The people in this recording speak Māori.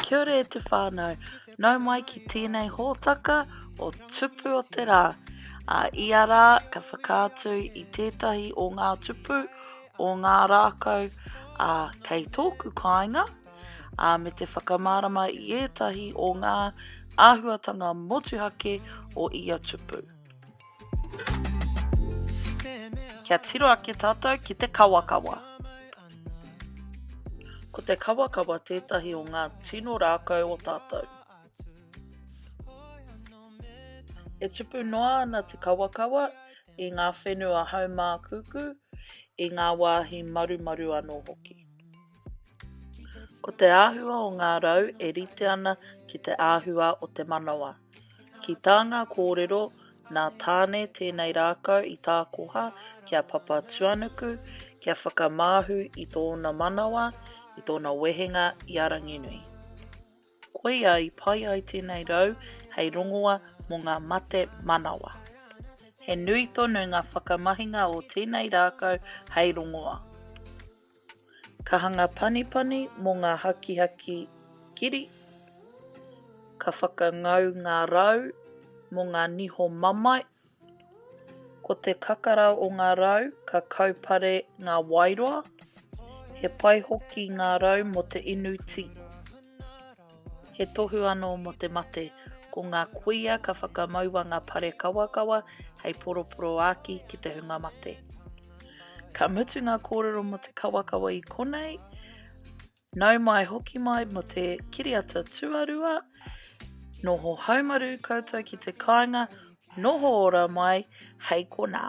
Kia ora e te whānau. Nau mai ki tēnei hōtaka o Tupu o te Rā. Ā, ia rā ka whakaatu i tētahi o ngā tupu o ngā rākau, ā, kei tōku kāinga, ā, me te whakamārama i ētahi o ngā āhuatanga motuhake o ia tupu. Kia tiro ake tātou ki te kawakawa. Ko te kawakawa tētahi o ngā tino rākau o tātou. E tupu noa ana te kawakawa i ngā whenua haumākūkū, i ngā wāhi marumaru anō hoki. Ko te āhua o ngā rau e rite ana ki te āhua o te manawa. Ki tā ngā kōrero, nā Tāne tēnei rākau i tākoha ki a Papatuanuku kia whakamāhu i tōna manawa, i tōna wehenga i a Ranginui. Koia i pai ai tēnei rau hei rongoa mō ngā mate manawa. He nui tonu ngā whakamahinga o tēnei rākau hei rongoa. Ka hanga panipani mō ngā hakihaki kiri, ka whakangau ngā rau mō ngā niho mamae, ko te kakara o ngā rau ka kaupare ngā waeroa, he pai hoki ngā rau mō te inu tī. He tohu anō mō te mate, ko ngā kuia ka whakamaua ngā pare kawakawa hei poroporoāki ki te hunga mate. Ka mutu ngā kōrero mō te kawakawa i konei, nau mai hoki mai mō te kiriata tuarua, noho haumaru koutou ki te kāinga, noho ora mai hei konā.